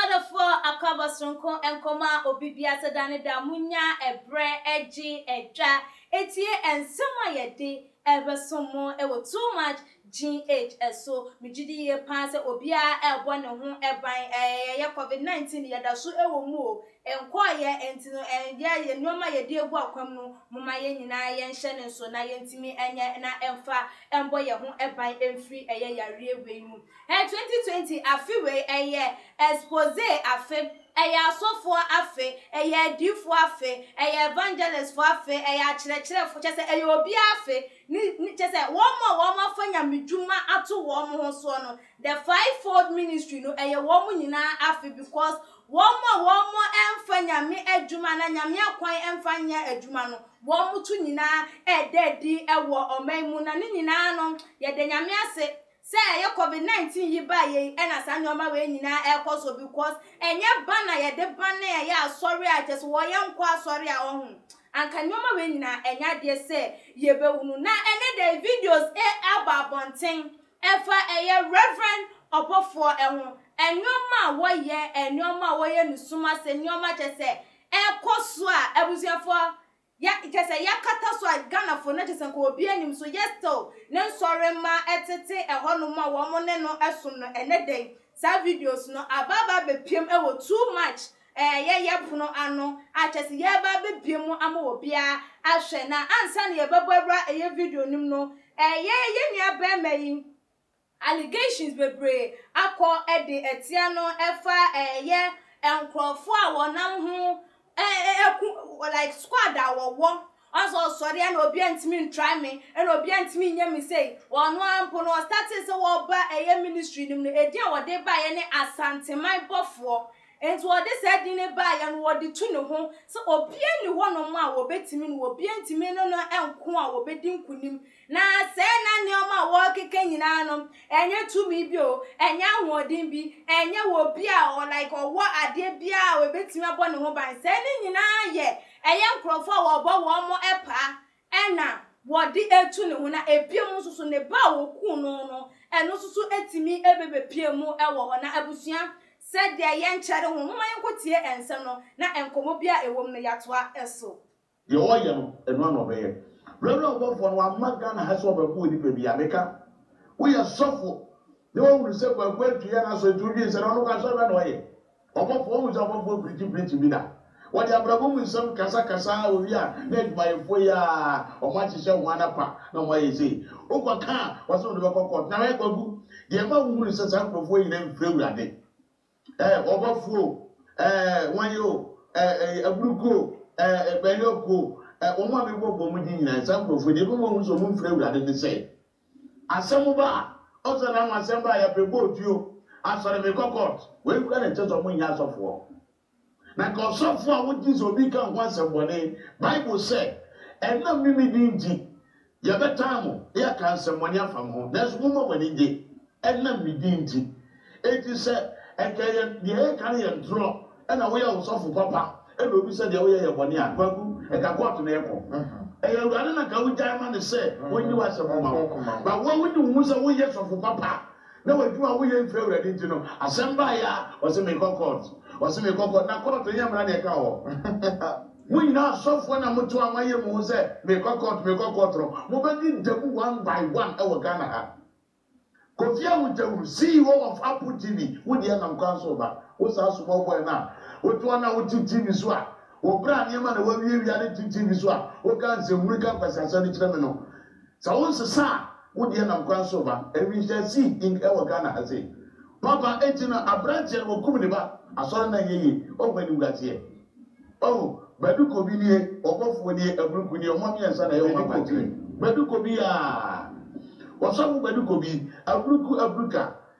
Ɔdɔfoɔ Akɔabɔ Soronko Nkɔmmɔ a Obi Di Aseda no Da a Monnya Ɛberɛ Gye Ɛtwa Tie Nsɛm a Yɛde Ɛbɛsom Mo Wɔ Too Much GH So Megye Di Yie Paa Sɛ Obiara Ɛrebɔ Ne Ho Ban Ɛyɛ Covid 19 Yɛda So Wɔ Mu O Nkɔeɛ Nti No Ɛnyɛ Yɛn Nnoɔma A Yɛde Agu Akwam No Momma Yɛn Nyinaa Yɛnhyɛ No Nso Na Yɛntumi Nyɛ Na Ɛmfa Ɛmbɔ Yɛn Ho Ban Ɛmfiri Ɛyɛ Yareɛ Wei Mu. Ɛɛ twenty twenty afe wei ɛyɛ expose afe, ɛyɛ asɔfoɔ afe, ɛyɛ adiifoɔ afe, ɛyɛ evangelist foɔ afe, ɛyɛ akyerɛkyerɛfoɔ, kyerɛ sɛ ɛyɛ obiara afe, ne ne kyerɛ sɛ wɔn a wɔn afa nyamedwuma ato wɔn ho soɔ no, the five fold ministry no ɛyɛ wɔn nyinaa afe because wɔn a wɔn ɛnfa nyame adwuma anaa nyame akwan ɛnfa nyɛ adwuma no wɔn to nyinaa ɛɛda adi ɛwɔ ɔman mu na ne nyinaa no yɛda nyame ase Sɛ ɛyɛ covid 19 yi baeɛ yi ɛna saa nnoɔma wei nyinaa ɛkɔ so because ɛnyɛ ba na yɛde ba na ɛyɛ asɔre a kyɛ sɛ wɔ yɛn nkɔ asɔre a ɔho anka nnoɔma wei nyinaa ɛnyɛ adeɛ sɛ yɛbɛhunu na ɛnɛ da yi videos ɛɛba abɔnten ɛfa ɛyɛ reverend ɔbɔfoɔ ɛho nnoɔma a wɔyɛ nnoɔma a wɔyɛ ne sum ase nnoɔma kyɛ sɛ ɛkɔ so a abusuafoɔ Yɛ kyerɛ sɛ yɛ akata so a Ghana fo no kyerɛ sɛ nka obiara nnim so yɛ still ne nsɔre mma ɛtete ɛhɔ nom a wɔn ne no ɛsom no ɛnɛ da yi saa videos no aba aba abɛpiem ɛwɔ too much ɛɛ yɛ yɛ pono ano a kyerɛ sɛ yɛ ɛba abɛbie mu ama wɔ biara ahwɛ na ansa na yɛ bɛbɔ awura ɛyɛ video nom no ɛɛ yɛ yɛ nua bɛɛma yi Allegations bebree akɔ de atia no ɛfa ɛyɛ nkorɔfoɔ a wɔnam ho ɛku like squad a wɔwɔ ɔn sɛ ɔsɔre ɛna obia ntumi ntry me ɛna obia ntumi nyɛ me sei ɔno ara mpo no ɔstartee sɛ wɔba ɛyɛ ministry no mu no ɛdin a wɔde baeɛ ne Asanteman bɔfoɔ nti wɔde saa din no baeɛ no wɔde tu ne ho sɛ obia nni hɔ nom a wɔbɛtumi no obia ntumi ne no nko a wɔbɛdi nkunim Na sɛɛ na nneɛma a wɔrekeka nyinaa no, ɛnyɛ tumi bi o, ɛnyɛ ahoɔden bi, ɛnyɛ wɔ obi a ɔ, like ɔwɔ adeɛ biara a ɔbɛtumi abɔ ne ho ban. Sɛɛ no nyinaa yɛ, ɛyɛ nkurɔfoɔ a wɔbɔ wɔn mo paa ɛna wɔde ɛtu ne ho. Na ɛbiom nso so, ne ba a wɔkuu no no, ɛno nso so ɛtumi ɛbɛbɛpie mu ɛwɔ hɔ. Na abusua, sɛdeɛ yɛnkyɛre ho, momma yɛnkɔtie ɛnsɛm no, na nkɔmmɔ biara a ɛwɔ mu no yɛatoa ɛso. Deɛ ɔreyɛ no, ɛno ara na ɔbɛyɛ. Reverend ɔbɔfoɔ no, wamma Ghana ha sɛ ɔbɛbɔ onipa biara. Meka, woyɛ sɔfo na woahunu sɛ Kwaku Antwi yɛ n'asɔre nti wodwene sɛ, na ɔno nko asɔre bɛn na ɔyɛ? Ɔbɔfoɔ, woahu sɛ ɔbɔfoɔ preachi preachi bi da? Wɔde abrabɔ mu nsɛm kasa kasa ara wɔwie a, na adwumayɛfoɔ yi ara, wɔahyehyɛ wɔn anapa na wɔayɛ sei. Wokɔka a, wɔse wode bɛkɔ court. Na hwɛ Kwaku, deɛ ɛma wohunu sɛ saa nkurɔfoɔ yi nyinaa mfiri Awurade, eh, ɔbɔfo o, eh, wɔn yɛ o, eh, eh, aburuku o, eh, eh, bɛnyɔko o, eh, wɔn a mebɔ bɔ mu di nyinaa, saa nkurɔfoɔ deɛ ɛbɛma wɔn sɛ wɔn mfiri awurade ne sɛ, asɛm ba a, ɔsɛ na wɔn asɛm ba a yɛpɛ bɔ otuo, asɔre mekɔ court, wei kura na ɛkyɛ sɛ wɔn nyɛ asɔfoɔ. Na nka ɔsɔfo a wogye sɛ obi ka ho asɛmmɔne. Bible se, Ɛnam ne me din nti, yɛbɛtan mo, na yɛaka nsɛmmɔne afa mo ho, nanso momma mo ani nnye, ɛnam me din nti. Enti sɛ ɛka ɛyɛ deɛ yɛreka no yɛ ntorɔ na woyɛ ɔsɔfo papa na obi sɛ deɛ woyɛ yɛ bɔne a, Kwaku, ɛka kɔɔto na yɛkɔ. Ɛyɛ Awurade na nka wogyae ma no sɛ ɔnyi w'asɛm mma wo. But wo a wone wo ho sɛ woyɛ sɔfo papa a, Na w'adwuma a woyɛ mfiri Awurade nti no, asɛm baeɛ a, ɔse mekɔ court, ɔse mekɔ court, na court nyɛ mmara na ɛka hɔ. Mo nyinaa asɔfoɔ na mote hɔ a moayɛ mo ho sɛ mekɔ court, mekɔ court no, mobɛdi da mu one by one wɔ Ghana ha. Kofi Awutawuru, CEO of Apple TV, wo deɛ nam kwan so reba. Wo saa small boy no a wote hɔ no a wote TV so a, wo bra nneɛma na woawiawia de te TV so a, woka nsɛnhunu ka nkwasiasɛm de kyerɛ me no, Sɛ wo nsesa a wo deɛ nam kwan so reba. Awinhyia si Ing ɛwɔ Ghana ha sei. Papa enti no abranteɛ no wakum ne ba asɔre no anyɛ yie wahu animguaseɛ oh Badu Kobi nie ɔbɔfoɔ nie Aburuku nie ɔmo mmiɛnsa na ɛyɛ ɔmo akwankyerɛ. Badu Kobi aa! Ɔsɔfo Badu Kobi, Aburuku, Aburuka,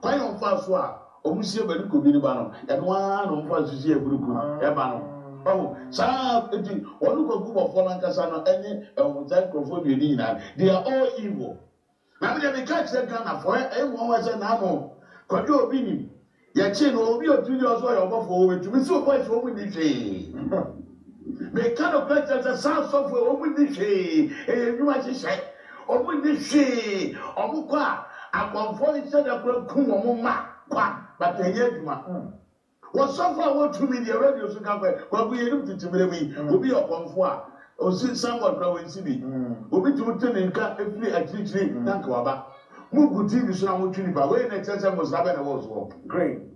Kwan a wɔfa so a wɔsi aba no kɔ bi no ba no, ɛno ara na wɔfa so si aburu ko ba no. Wahu? Saa ara nti, wɔn Kwakubɔfoɔ no ankasa no ne saa nkurɔfoɔ mmienu nyinaa no, they are all evil. Na me deɛ meka kyerɛ Ghanafoɔ, ɛ, ɛyɛ nwanwa sɛ na ano Kwadwo a obi nim, yɛkyee no, ɔwɔ bi a ɔtumi gyina hɔ sɛ ɔyɛ ɔbɔfoɔ, wɔbɛtumi sɛ ɔbɔ ahyɛ wɔn nni hwee. Meka nokorɛ kyerɛ sɛ saa asɔfo yi wɔn nni hwee ɛyɛ nnwuma nhyehyɛe wɔn nni hwee wɔn kɔ a akɔmfoɔ nhyɛ da koraa kum wɔn mma kwa but ɛnyɛ adwuma wɔ sɔfo a wɔ tumi deɛ radio so ka kɔ kwaku yɛnim tete mmerɛ mu yi obi yɛ ɔkɔmfoɔ a osi sanbɔd koraa wɔn nsi bi obi tumi te ne nka firi akyirikyiri na nka waba mo gu tv so na mo twe nipa wei na ɛkyerɛ sɛ mmosra bɛn na ɛwɔ soɔ. Crane.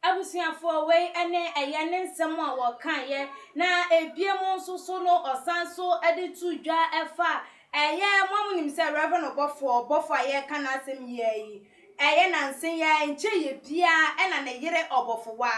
Abusuafoɔ wei ne ɛyɛ ne nsɛm a wɔkaeɛ, na ɛbie mu nso so no ɔsan nso de too dwa fa ɛyɛ mo a monim sɛ Rev. Ɔbɔfoɔ bɔfoɔ a yɛreka n'asɛm yi ara yi, ɛyɛ nansa yi ara nkyɛ yɛ biara na ne yere ɔbɔfowa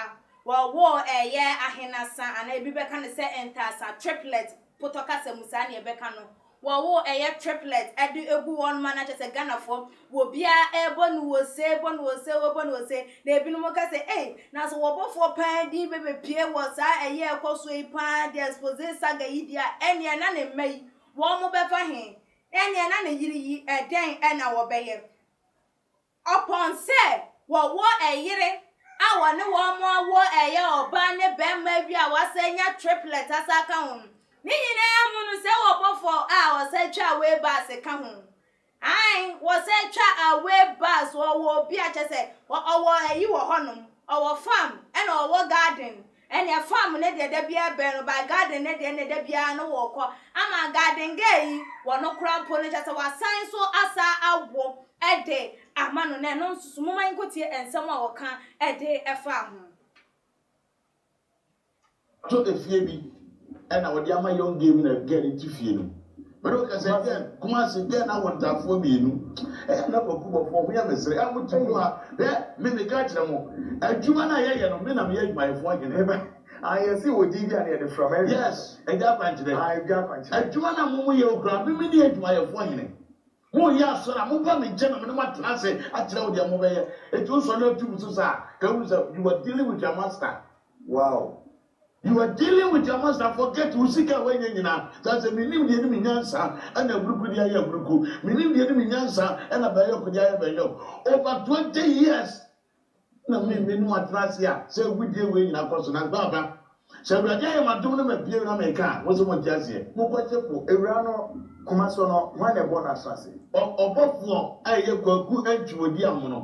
wɔwoo ɛyɛ ahenasa anaa ɛbi bɛka no sɛ ntaasa, triplets, Potɔ kasa mu saa na yɛbɛka no wɔwo ɛyɛ triplet de gu hɔnom a na kyerɛ sɛ Ghanafoɔ wɔ biara ɛrebɔ no ose, bɔ no ose, wɔbɔ no ose na ebinom ka sɛ ei na sɛ wɔbɔfoɔ paa din bɛbɛpue wɔ saa ɛyɛ a ɛkɔ soɔ yi paa de expose saga yi deɛ a ɛnneɛ na ne mma yi wɔbɛfa he? Ɛnneɛ na ne yere yi ɛdɛn na wɔbɛyɛ? Ɔpɔn sɛ wɔwɔ ɛyere a wɔne wɔn awo ɛyɛ ɔbaa ne bɛɛma awie a wɔasan anya triplɛt asan aka ho no. Ne nyinaa mu no sɛ wɔbɔ fɔ a wɔsan twa away bus ka ho. Ae, wɔsan twa away bus, wɔwɔ obi a kyerɛ sɛ ɔwɔ ayi wɔ hɔnom, ɔwɔ farm ɛna ɔwɔ garden Ɛneɛ farm no deɛ da biara bɛn no by garden no deɛ neɛ da biara no wɔ kɔ ama garden girl yi wɔ no kora mpo no kyɛsɛ wa san nso asa awo de ama no na ɛno nso so moma yɛn kɔ tie nsɛm a wɔka de fa ho. To efie bi ɛna wɔde ama young gay bi na gay no te fie no bɛde wɔka sɛ gay kumase gay no awo ntaafoɔ mmienu ɛyɛ na kwaku bɔfoɔ ho yɛ mesere a mote kuro ha hwɛ me meka kyerɛ mo adwuma no a yɛyɛ no me na meyɛ adwumayɛfoɔ hene ayɛse wɔ din bi a ne yɛde frɛ ma yes agya akwankyerɛ agya akwankyerɛ adwuma no a mo mo yɛ okura me me ne adwumayɛfoɔ hene mo yɛ asɔ na mo ba me nkyɛn na me ne mo atena ase akyerɛ wo deɛ mo bɛyɛ etu nsɔ na atu mu so saa ka wuru sɛ you are dealing with your master wow You are dealing with your master forget wo sika a wanya nyina ka sɛ menim deɛ ne me nyansa ɛna aburuku de ayɛ aburuku menim deɛ ne me nyansa ɛna bɛyɔk de ayɛ bɛyɔk over 20 years na me me ne wo atena ase a sɛ agudie wei nyina kɔ so nanso aba sɛ awurade ayɛ m'adom no ma bie na meka a mo sɛ mo nte aseɛ mo kɔgye po awura no koma so no hwan na ɛbɔɔ no asase. Ɔbɔfoɔ a ɛyɛ Kwaku Antwi Odiamono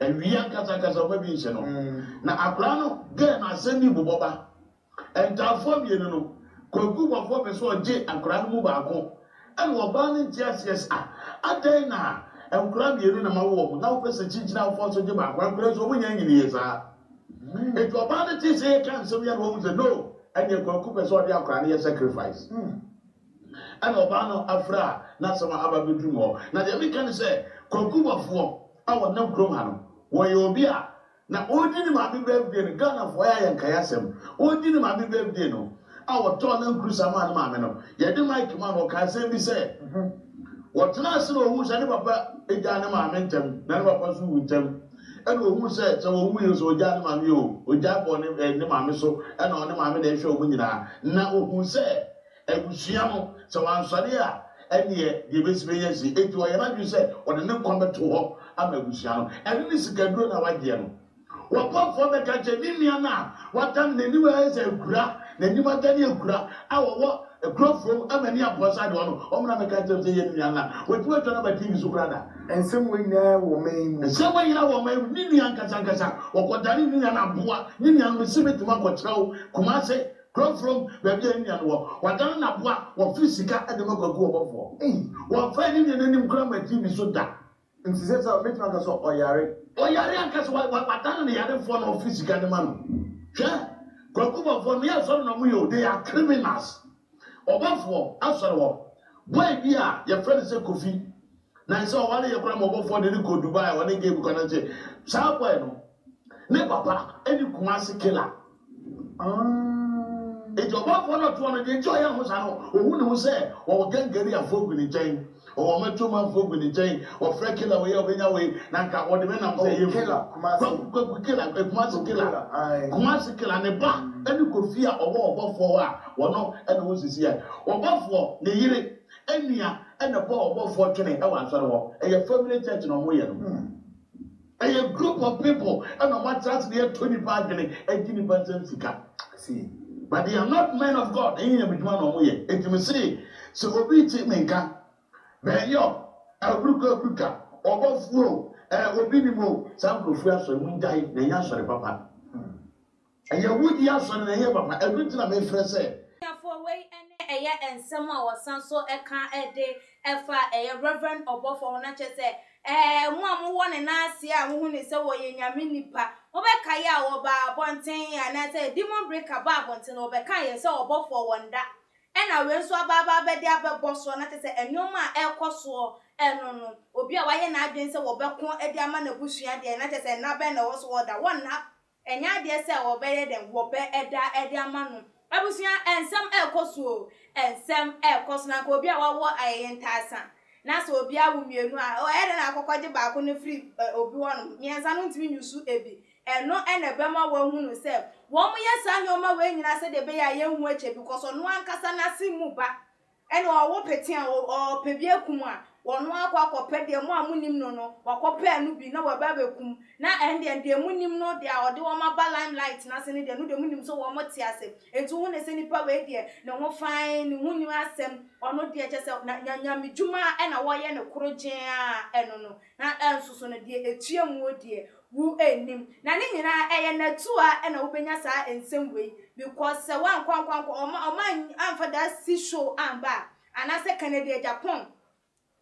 Awie akasakasa ɔma bi nhyɛ no na akwadaa no gɛɛ no asɛm bi bobɔ ba. Ntaafoɔ awie no no, Kwaku bɔfoɔ pɛ sɛ ɔgye akwadaa no mu baako ɛna ɔbaa no nte aseɛ sɛ ah adɛn na nkwadaa mmienu na mawo wɔn na wopɛ sɛ kyinkyinnaafoɔ nso gye baako akwadaa nso wɔn nyinaa nyini yie saa. Eti ɔbaa no tee sɛ yɛka nsɛm yɛ na wahu sɛ no ɛneɛ Kwaku pɛ sɛ ɔde akwadaa no yɛ sacrifice. Ɛna ɔbaa no afra a n'asɛm aba abɛduru me hɔ na deɛ meka ne sɛ Kwaku bɔfoɔ, a ɔnam kurom ha no, wɔyɛ obi a na ɔregye ne maame berɛ awie no, Ghanafoɔ ayɛ ayɛ nkaeɛ asɛm, ɔregye ne maame berɛ awie no, a wɔtɔɔ nankurusa maa ne maame no, yɛde mic maa no, ɔkaa asɛm bi sɛ, wɔtenaa ase na ɔhuu sɛ ne papa gyaa ne maame ntɛm, na ne papa nso wu ntɛm, ɛna ɔhuu sɛ sɛ ɔwuiɛ nso ɔgyaa ne maame yɛ o, ɔgyaa bɔɔ ne, eh, ne maame so, ɛna ɔne maame na ɛhwɛ wɔn nyinaa, na ɔhuu sɛ Abusua no, sɛ wansɔre a, ɛnneɛ deɛ ɛbɛsi bɛyɛ asie. Enti ɔyɛ n'adwene sɛ ɔde ne nkwa bɛto hɔ ama abusua no. Ɛno ne sikaduro no a wagyeɛ no. W'abɔfoɔ bɛka akyerɛ ne nua no a wata no, n'aniwa ayɛ sɛ akura, n'anim adane akura, a ɔwɔ kuro fam ma ani abɔ sɛ adewa no, ɔmmra mmɛka nkyerɛ no sɛ yei ne nua no a watumi atwa no aba TV so koraa da. Nsɛm wei nyinaa wɔ ɔman yi mu. Nsɛm wei nyinaa wɔ ɔman yi mu. Ne nua ankasankasa, ɔkɔdanee ne nua no aboa. Ne nua no, mese mɛtumi akɔkyerɛ wo Kumase Frɔmfrɔm baabi a ne nua no wɔ. Wadane n'aboa a wɔfre sika de ma kwaku ɔbɔfoɔ. Wɔmfaa ne nua no anim koraa mmatii ne so da. Nti sɛ saa a, mɛtumi aka sɛ ɔyare. Ɔyare anka sɛ wadane ne yarefoɔ na ɔfre sika de ma no. Hwɛ! Kwaku bɔfoɔ, meyɛ sɔre na wɔyɛ o, they are criminals. Ɔbɔfoɔ, asɔre hɔ boy bi a yɛfrɛ no sɛ Kofi Na ɛsɛ ɔware yɛ koraa ma ɔbɔfoɔ de no kɔ Dubai a ɔne Gabe kɔ no nkyɛ. Saa boy no ne papa ɛne Kumasi killer. Ah. Nti ɔbɔfoɔ no ɔtoɔ no deɛ nti ɔyɛ ho saa no ɔhu ne ho sɛ wɔwɔ gangari afoɔ gu ne nkyɛn. Wɔwɔ matwom afoɔ gu ne nkyɛn. Wɔfrɛ killer wei a ɔbɛnya wei na nka wɔde me nam sɛ ɛyɛ mfiri. Oh killer Kumasi. Kwaku kwaku killer eh, Kumasi killer. Kumasi killer ne ba ɛne Kofi a ɔwɔ ɔbɔfoɔ hɔ a wɔno ɛne wo sisi yɛ. Ɔbɔfoɔ ne yere Enea na Paul ɔbɔfoɔ twene wɔ asɔre hɔ. Ɛyɛ family church na ɔmo yɛ no. Ɛyɛ group of people na ɔmo atra ase na yɛtɔ nipa adwene ɛgye nipa nsam sika. But they are not men of God ɛnyɛ nyame dwuma na ɔmo yɛ. Enti me see sɛ obi te me nka bɛɛyɔ aburuka aburuka ɔbɔfoɔ o ɛɛ obi nim o saa nkorɔfoɔ yɛ asɔre mo ngyae na ɛnyɛ asɔre papa. Ɛyɛ wo di asɔre na ɛnyɛ papa. Ɛno nti na mefrɛ sɛ. Abusuafoɔ, wei ne ɛyɛ nsɛm a wɔsan nso ka de fa ɛyɛ Rev. Ɔbɔfoɔ ho, na kyerɛ sɛ, ɛɛ, mo a mowɔ ne nan ase a mohu no sɛ ɔyɛ Nyame nipa, mobɛkae a ɔbaa abɔnten anaasɛ demon breaker baa abɔnten no, wɔbɛkaeɛ sɛ ɔbɔfoɔ wɔ nda, ɛna wei nso aba aba abɛde abɛbɔ soɔ, na kyerɛ sɛ nnoɔma a ɛrekɔ soɔ no no, obi a wayɛ n'adwene sɛ wɔbɛko de ama n'abusua deɛ, na kyerɛ sɛ nna bɛn na ɛwɔ so wɔ da, wɔnna. Ɛnyɛ adeɛ sɛ wɔbɛyɛ dɛn, wɔbɛ ɛda ɛde ama no. Abusua, ɛnsɛm ɛɛkɔ so o, ɛnsɛm ɛɛkɔ so, na nka obi a wawo ayɛyɛ ntaasa, na sɛ obi awo mmienu a, o ɛyɛ dɛn na wakɔ kɔgye baako no afiri obi hɔ nom, mmiɛnsa no ntumi nyusu ebi, ɛno na ɛbɛma wahunu sɛ wɔyɛ saa nnoɔma wei nyinaa sɛdeɛ ɛbɛyɛ a yɛnhu ɛkyɛ bi, kɔsɔ ɔno ankasa n'ase mu ba. Ɛna ɔwo pete a ɔɔpɛ bi akum a, wɔno ara akɔ akɔpɛ deɛ mo a monim no no, wakɔpɛɛ no bi na waba abɛkum. Na ɛndeɛ deɛ monim no deɛ a ɔde wɔn aba limelight no ase no deɛ, no deɛ monim sɛ wɔn te ase. Enti wohu no sɛ nipa wei deɛ, ne ho fann, ne ho nnim asɛm, ɔno deɛ kyerɛ sɛ na nya nyamedwuma na wɔyɛ no koro gyee ara, ɛno no. Na ɛnso so no deɛ ɛtua muo deɛ, Wo nnim. Na ne nyinaa, ɛyɛ n'atua na wobɛnya saa nsɛm wei, because sɛ woankɔ ankɔ ankɔ, wɔn a, wɔn a amfa that sea show amba a, anaasɛ Kennedy Agyapong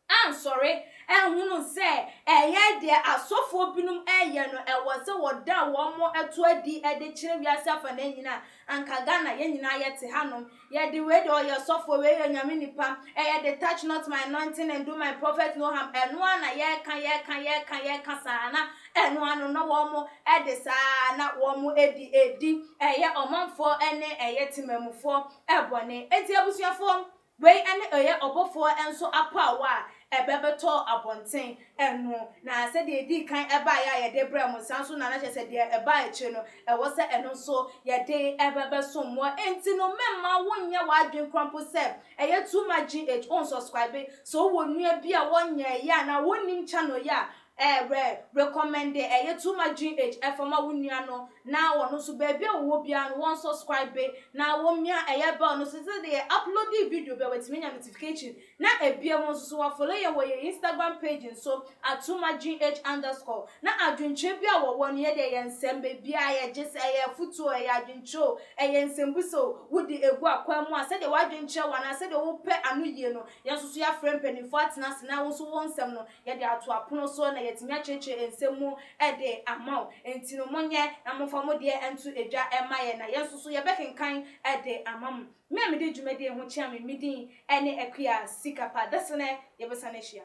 ansɔre anhunu sɛ ɛyɛ deɛ asɔfoɔ binom reyɛ no, ɛwɔ sɛ wɔda wɔn to adi de kyerɛ wiase afanan nyinaa a, anka Ghana yɛn nyinaa yɛte hanom. Yɛ de wei deɛ ɔyɛ sɔfoɔ wei yɛ nyame nipa ɛyɛ de touch not my anointing and do my prophet no harm ɛno ara na yɛka yɛka yɛka yɛka saa na ɛno ara no na wɔn mo ɛde saa na wɔn mo ɛdi ɛdi ɛyɛ ɔmanfoɔ ɛne ɛyɛ temamufoɔ ɛbɔne ɛti abusuafoɔ wei ɛne ɛyɛ ɔbɔfoɔ ɛnso apaawa a ɛbɛbɛtɔ abɔnten ɛno, na sɛ deɛ ɛdii kan baeɛ a yɛde brɛɛ mo, saa ara nso na na kyerɛ sɛ deɛ ɛba akyire no, ɛwɔ sɛ ɛno nso yɛde bɛsom mo. Enti no, mɛmma wonyɛ w'adwene koraa mpo sɛ ɛyɛ too much GH, wonsɔskraibe. Sɛ wowɔ nua bi a ɔnyɛɛ yɛ anaa wonnim channel yi a, eh, rɛ, rekɔmɛnde ɛyɛ too much GH fa ma wo nua no, na ɔno nso baabi a ɔwɔ biara no, wɔnsɔskraibe, na wɔmmia ɛyɛ bell no so, sɛ deɛ yɛ uploadi video bi a, watumi anya notification. Na ebia mo nso so wɔafolo yɛn wɔ yɛn Instagram page no so at Twumagh underscore. Na adwenkyerɛ biara a wɔwɔ no, yɛde ɛyɛ nsɛm, baabiara yɛ, gye sɛ ɛyɛ afotuo o, ɛyɛ adwenkyerɛ o, ɛyɛ nsɛmbusa o, wode ɛgu akwan mu a, sɛdeɛ w'adwene kyerɛ wo anaa sɛdeɛ wopɛ ano yie no, yɛn nso so yɛafrɛ mpaninfoɔ atena ase na wo nso wo nsɛm no, yɛde ato apono so na yɛatumi akyerɛkyerɛ nsɛm mu de ama wo. Enti no monyɛ na momfa mo deɛ nto dwa mma yɛn na yɛn nso so yɛbɛkenkan de ama mo. Me a mede dwumadie yi ho kyea me me din ne Akua Sikapa Dasene yɛbɛsan ahyia.